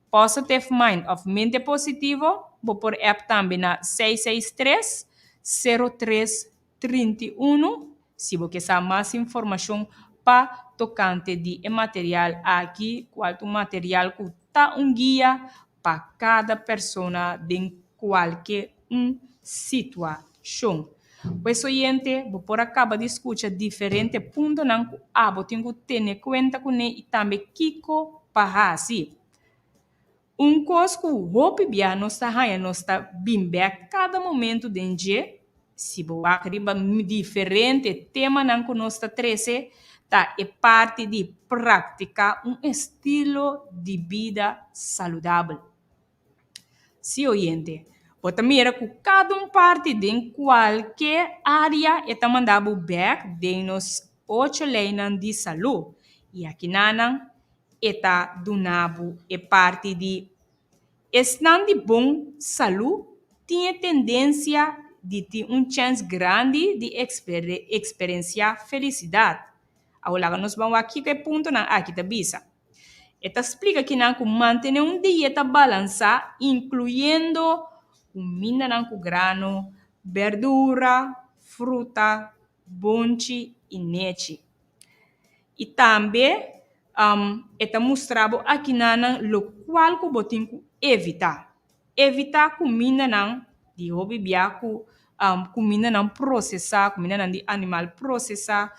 Positive Mind of Mente Positivo, bo por app tambe na seis seis tres, sero tres, trinta i unu si bo ke sa mas informashon pa tokante di e material aki ku al ta un material ku ta un guia pa kada persona den kualke un situashon. Pues oyente, bo por a kaba di skucha diferente puntonan ku abo tin ku tene kuenta kuné i tambe kiko pa hasi. Un kos ku hopi bia nos ta haña nos ta bin bèk kada momentu den dje. Si bo wak riba diferente temanan ku nos ta trese, ta e parti di praktiká un estilo di bida saludabel. Sí, oyente, bo ta mira ku kada un parti den kualke área e ta manda bo bèk den nos ocho leinan di salú. I akinanan e ta duna bo e parti di Esnan di bon salú tin e tendensia di tin un chèns grandi di eksperensiá felisidat. Awor laga nos ban wak kiko e puntonan aki ta bisa. E ta splika kinan ku mantené un dieta balansá, inkluyendo kumindanan ku grano, berdura, fruta, bonchi i nechi. I tambe e ta mustra bo akinan nan lokual ku bo tin ku evitá. Evitá kumindanan di hopi bia ku kumindanan prosesá, kumindanan di animal prosesá.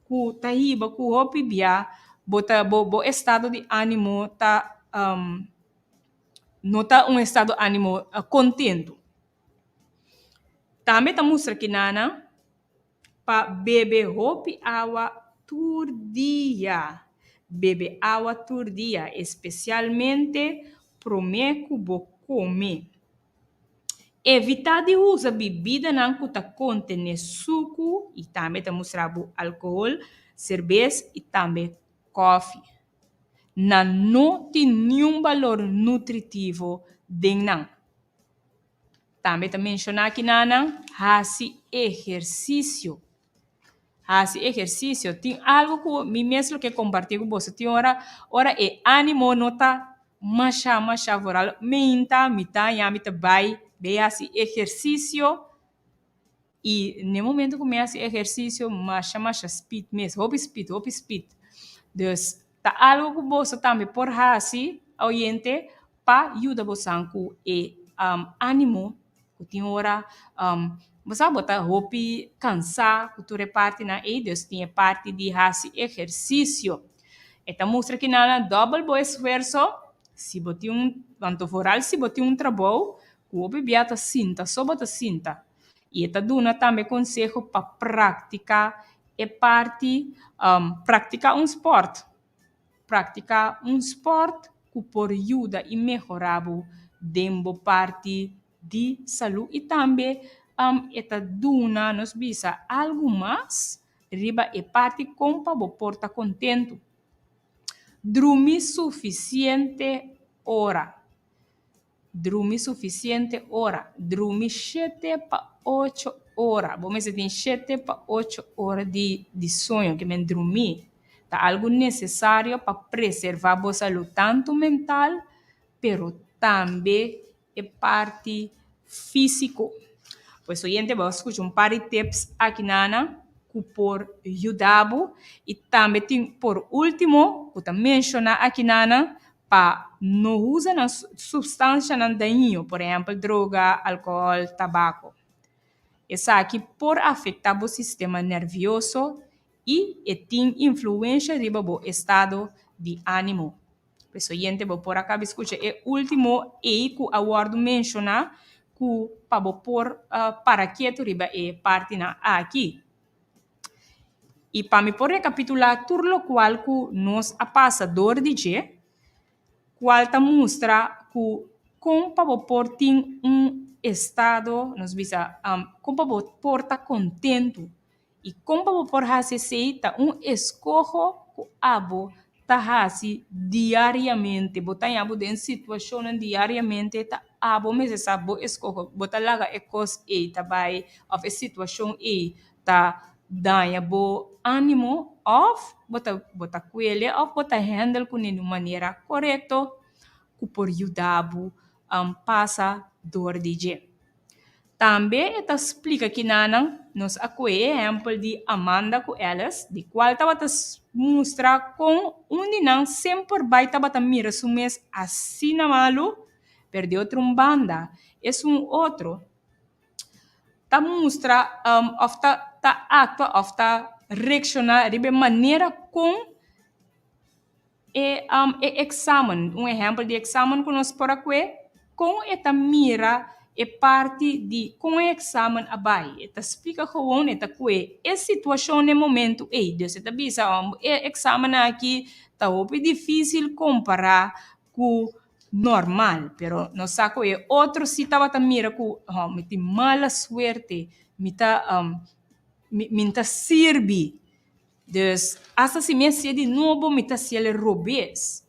ku ta hiba ku hopi bia bo ta bo bo estado di animo ta um no ta un estado animo kontentu tambe ta mustra ki nana pa bebe hopi awa tur dia bebe awa tur dia especialmente prome ku bo kome. Evitá di usa bibidanan ku ta kontené suku i tambe ta mustra bo alkohol, serbes i tambe kòfi. Nan no tin niun balor nutritivo den nan. Tambe ta menshoná kinan nan hasi ehersisio. Hasi ehersisio tin algu ku mi mes lo ke kompartí ku boso tin ora ora e ánimo no ta masha masha for al meinta mitá yami ta bai bei hasi ehersisio i ne momento ku mi hasi ehersisio masha masha spid mes hopi spid hopi spid. Ta algu ku boso tambe por hasi, oyente, pa yuda bosan ku e ánimo ku tin ora bo sa bo ta hopi kansá ku tur e partinan ei? Dios tin e parti di hasi ehersisio. E ta mustra ki nan a dòbel bo esfuerso. Si bo tin un, anto foral si bo tin un trabou ku hopi bia ta sinta, so bo ta sinta, i e ta duna tambe konseho pa praktiká e parti praktiká un spòrt, praktiká un spòrt ku por yuda i mehorá bo den bo parti di salú i tambe e ta duna nos bisa algu mas riba e parti kon pa bo por ta kontentu. Drumi sufisiente ora, Drumi sufisiente ora. Drumi shete pa ocho ora. Bo mester tin shete pa ocho ora di di soño ke men drumi. Ta algu nesesario pa preservá bo salú tantu mental pero tambe e parti físiko. Pues oyente bo a skucha un par di tips aki nana ku por yuda bo i tambe tin por último ku ta menshoná aki nana pa no usa nan supstansianan daiño, por ehèmpel droga, alkohòl, tabako. Esaki por afektá bo sistema nervioso i e tin influensha riba bo estado di ánimo. Por eso yente bo por a kaba skucha e último ei ku a wòrdu menshoná ku pa bo por para ketu riba e partinan aki. I pa mi por rekapitulá tur lokual ku nos a pasa dor di dje, kual ta mustra ku kon pa bo por tin un estado, nos bisa kon pa bo por ta kontentu i kon pa bo por hasi esei ta un eskoho ku abo. ta hasi diariamente bo ta yabo den situacionnan diariamente ta abo mes e sa bo escoge bo ta laga e cos ey ta bay of e situacion ey ta daña bo animo of bo ta bo ta cuele of bo ta handle cune de un manera corecto cu por yuda bo pasa door di dje. Tambe e ta splika kinanan nos a koe e ehèmpel di Amanda ku Alice, di kual tabata mustra kon un di nan sen por bai tabata mira su mes asina malu. Pero di otro un banda, esun otro ta mustra òf ta aktua òf ta reakshoná riba e manera kon. E eksamen, un ehèmpel di eksamen ku nos por a kue, kon e ta mira e parti di kon e eksamen a bai. E ta splika gowon, e ta kue e situashon den momentu ei. Dòs e ta bisa, ò e eksamen aki ta hopi difísil kompará ku nòrmal. Pero nos sa ku e otro si tabata mira ku, hò mi tin mala suerte, mi ta mi no ta sirbi. Dus, asta si mi a sié di nobo, mi ta sié el e robes.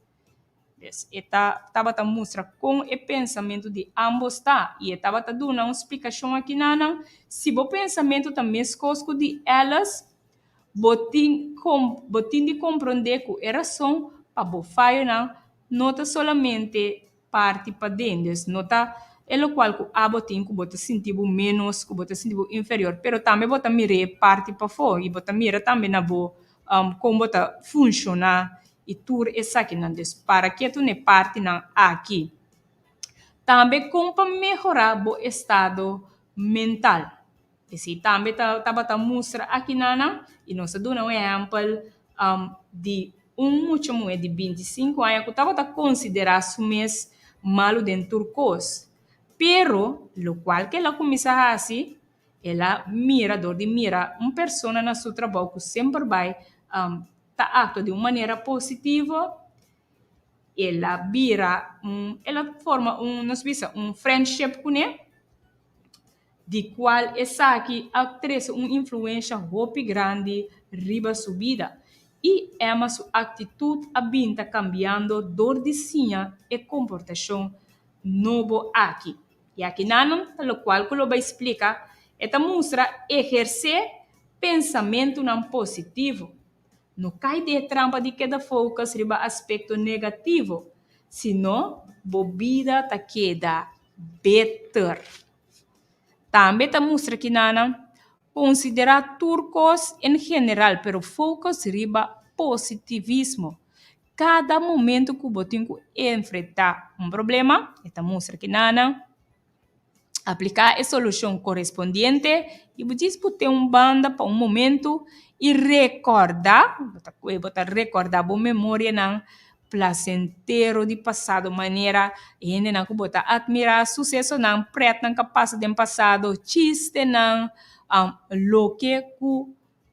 Dus, e ta tabata mustra kon e pensamentu di ámbos ta, i e tabata duna un splikashon aki na nan, Si bo pensamentu ta meskos ku di ellos, bo tin kon, bo tin di komprondé ku e rason pa bo fayonan no ta solamente, parti paden des no ta e locual cu abo tin cu bo ta sinti bo menos cu bo ta sinti bo inferior pero tambe bo ta mira e parti pafo y bo ta mira tambe na bo um con bo ta funciona y tur esaki nan des para ketu ne parti nan aki tambe con pa mehora bo estado mental. E si tambe ta tabata mustra aki nana y nos a duna un ehempel di un mucha muhe di binti i sinku aña cu tabata considera su mes malu den tur cos. Pero locual cu el a cuminsa haci, el a mira dor di mira un persona na su trabou cu semper bay ta actua di un manera positivo, el a bira un, el a forma un nos bisa un friendship cune. di kual esaki a trese un influensha hopi grandi riba su bida i Emma su aktitut a bin ta kambiando dor di siña e komportashon nobo aki. I aki nannan ta lokual ku lo bai splika e ta mustra ehersé pensamentunan positivo. No kai den e trampa di keda fokus riba aspekto negativo, sino bo bida ta keda. beter. Tambe ta mustra ki nannan konsiderá tur kos en general pero fokus riba positivismo. Kada momentu ku bo tin ku enfrentá un problema e ta mustra ki nannan apliká e solushon korespondiente i bo djis bo ten un banda pa un momentu i rekòrda, bo ta rekòrda bo memorianan. plasentero di pasado manera hendenan ku bo ta atmirá susesonan prètnan ka pasa den pasado chistenan loke ku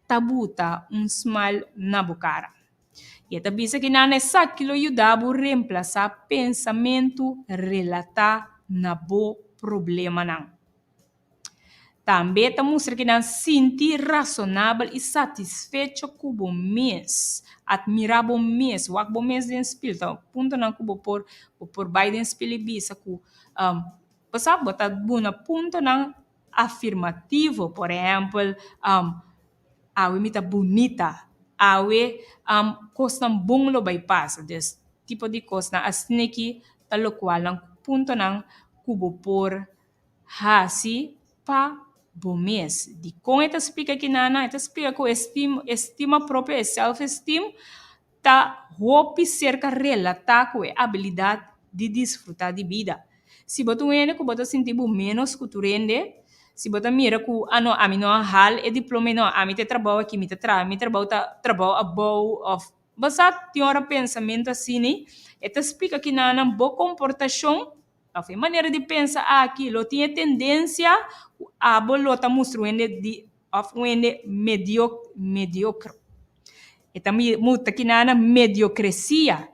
ta buta un smile na bo kara i e ta bisa ki nan esaki lo yuda bo remplasá pensamentu relatá na bo problemanan. Tambe ta mustra ki nan sinti rasonabel i satisfecho ku bo mes. Atmirá bo mes, wak bo mes den spil. Ta un puntonan ku bo por bo por bai den spil i bisa ku, bo sa bo ta duna puntonan afirmativo. Por ehèmpel, awe mi ta bunita, awe kosnan bon lo bai pasa. Des tipo di kosnan asina ki ta lokual nan puntonan ku bo por hasi pa bo mes. Dikon e ta splika ki nannan? E ta splika ku estim estima propio, e self-esteem, ta hopi serka relatá ku e abilidat di disfrutá di bida. Si bo ta un hende ku bo ta sinti bo ménos ku tur hende, si bo ta mira ku a no ami no a hal e diploma ei, no ami ta e trabou aki, mi ta tra mi trabou ta trabou abou òf basá tin ora pensamentu asini e ta splika ki nannan bo komportashon. Pafo e manera di pensa aki lo tin e tendensia ku abo lo ta mustra un hende di òf un hende medio mediokr. E ta mustra ki nan na mediokresia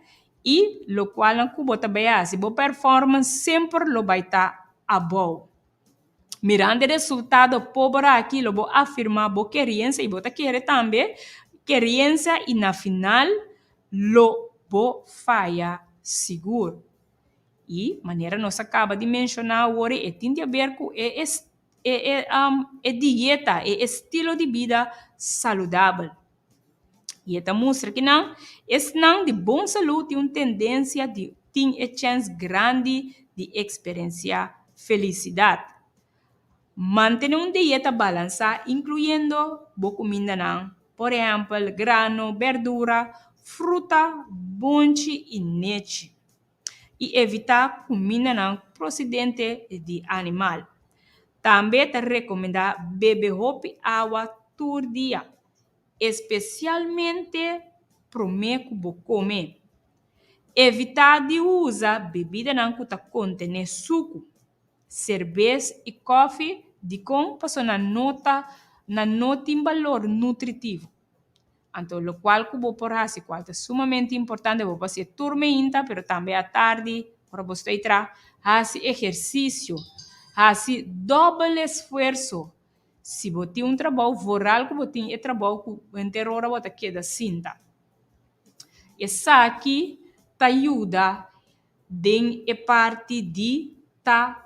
i lokual ku bo ta bai hasi bo performance semper lo bai ta abou. Mirando e resultado pober aki lo bo afirma bo keriensa i bo ta kere tambe keriensa i na final lo bo faya sigur. I manera nos a kaba di menshoná awor e tin di aber ku e e dieta, e estilo di bida saludabel. I e ta mustra kinan esnan di bon salú tin un tendensia di tin e chèns grandi di eksperensiá felisidat. Mantené un dieta balansá inkluyendo bo kumindanan, por ehèmpel grano, bèrdura, fruta, bonchi i nechi. i evitá kumindanan prosidente di animal. Tambe ta rekomendá bebe hopi awa tur dia, espesialmente promé ku bo kome. Evitá di usa bebidanan ku ta kontené suku, serbes i kòfi dikon pasobra nan no tin balor nutritivo. Anto lokual ku bo por hasi ku a ta sumamente importante, bo por hasi tur meinta pero tambe atardi ora bo stoi traha, hasi ehersisio, hasi dobel esfuerso. Si bo tin un trabou voral ku bo tin e trabou ku henter ora bo ta keda sinta esaki ta yuda. den e parti di ta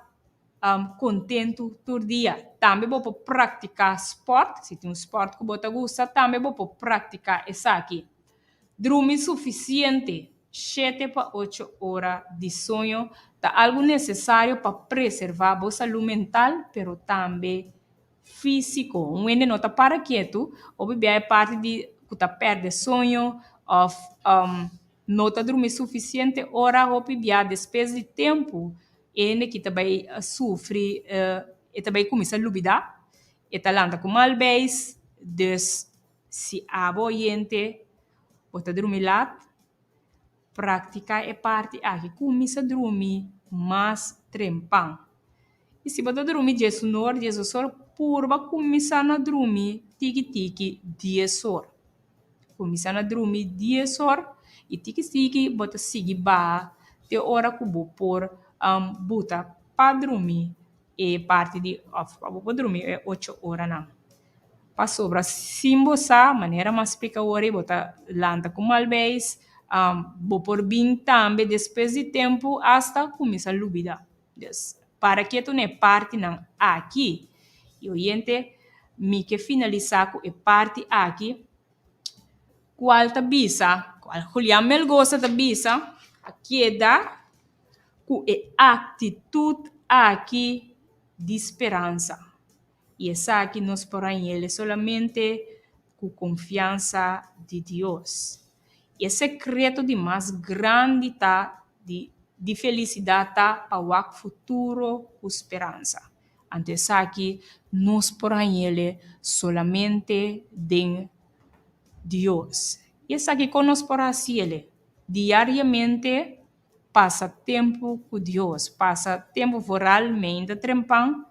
um kontentu tur dia. Tambe bo por praktiká spòrt, si tin un spòrt ku bo ta gusta, tambe bo por praktiká esaki. Drumi sufisiente, shete pa ocho ora di soño ta algu nesesario pa preservá bo salú mental pero tambe físiko. Un wende no ta para kietu, hopi biaha e parti di ku ta pèrdè soño òf. No ta drumi sufisiente ora, hopi bia despues di tempu e hende ki ta bai sufri e ta bai cuminsa lubida, e ta lanta cu mal beis, dus si abo oyente bo ta drumi laat practica e parti aki cuminsa drumi mas trempan. I si bo ta drumi dies nor, dies dos or, purba kuminsá na drumi tiki tiki dies or. Kuminsá na drumi dies or i tiki tiki bo ta sigui baha te ora ku bo por buta pa drumi e parti di òf pa bo por drumi e ocho oranan. Pasobra sin bo sa manera mas splika oria bo ta lanta ku malbeis bo por bin tambe despues di tempu asta kuminsá lubidá. Des, para ketu na e partinan aki. Y oyente, mi ke finalisá ku e parti aki, kual ta bisa, kual Julian Melgosa ta bisa, a keda ku e aktitut aki di speransa. I esaki nos por hañ'el solamente ku konfiansa di Dios. I e sekreto di mas grandi ta di di felisidat ta pa wak futuro ku speransa. Anto esaki nos por hañ'el solamente den Dios. I esaki kon nos por hasiel diariamente. Pasa tempu ku Dios. Pasa tempu for realmente trempan.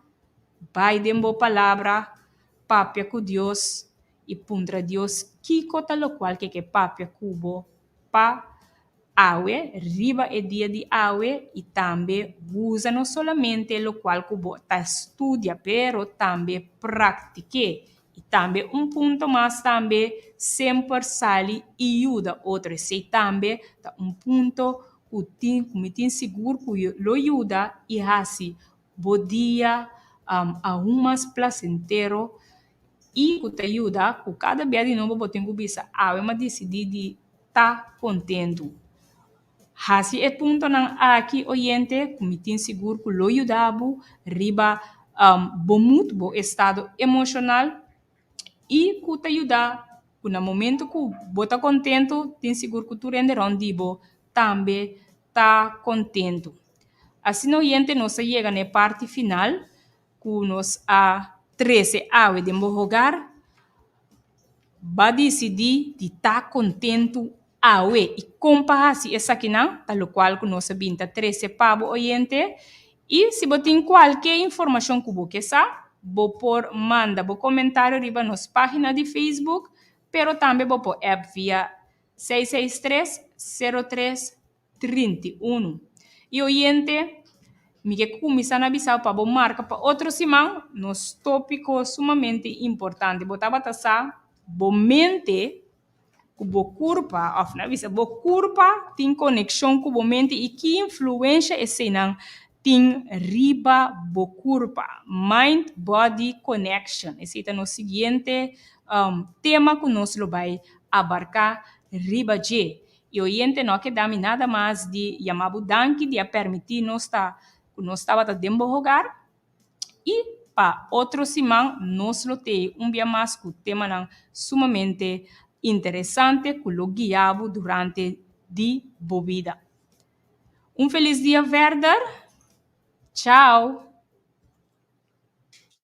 Bai den bo palabra, papia ku Dios i puntra Dios kiko ta lokual ke ke papia ku bo pa awe, riba e dia di awe i tambe usa no solamente lokual ku bo ta studia pero tambe praktik'é. Y tambe un punto mas tambe semper sali y yuda otro esey tambe ta un punto cu tin cu mi tin sigur cu yo lo yuda y haci bo dia aun mas placentero y cu ta yuda cu cada bia di nobo bo tin cu bisa awe ma dicidi di ta contento. Hasi e puntonan aki, oyente, ku mi tin sigur ku lo yuda bo riba bo mood, bo estado emoshonal i ku ta yuda ku na momentu ku bo ta kontentu tin sigur ku tur hende rònt di bo tambe ta kontentu. Asina oyente nos a yega na e parti final. Ku nos a trese awe den bo hogar, Bo disidí di ta kontentu awe i kon pa hasi esakinan, ta lokual ku nos a bin ta trese pa bo, oyente. I si bo tin kualke informashon ku bo ke sa, bo por manda bo komentario riba nos página di Facebook, pero tambe bo por app via seis seis tres, sero tres, trinta i unu. I oyente, mi ke kuminsá na bisa bo pa bo marka pa otro siman nos tópiko sumamente importante. Bo tabata sa bo mente ku bo kurpa, òf na bisa bo kurpa tin konekshon ku bo mente i ki influensha eseinan tin riba bo kurpa, mind-body connection. Esei ta nos siguiente tema ku nos lo bai abarká riba dje. E oyente no a keda mi nada mas di yama bo danki di a permiti nos ta cu nos tabata den bo hogar y pa otro siman nos lo tee un bia mas cu temanan sumamente interesante cu lo guia bo durante di bo bida. Un feliz dia verder! Chao!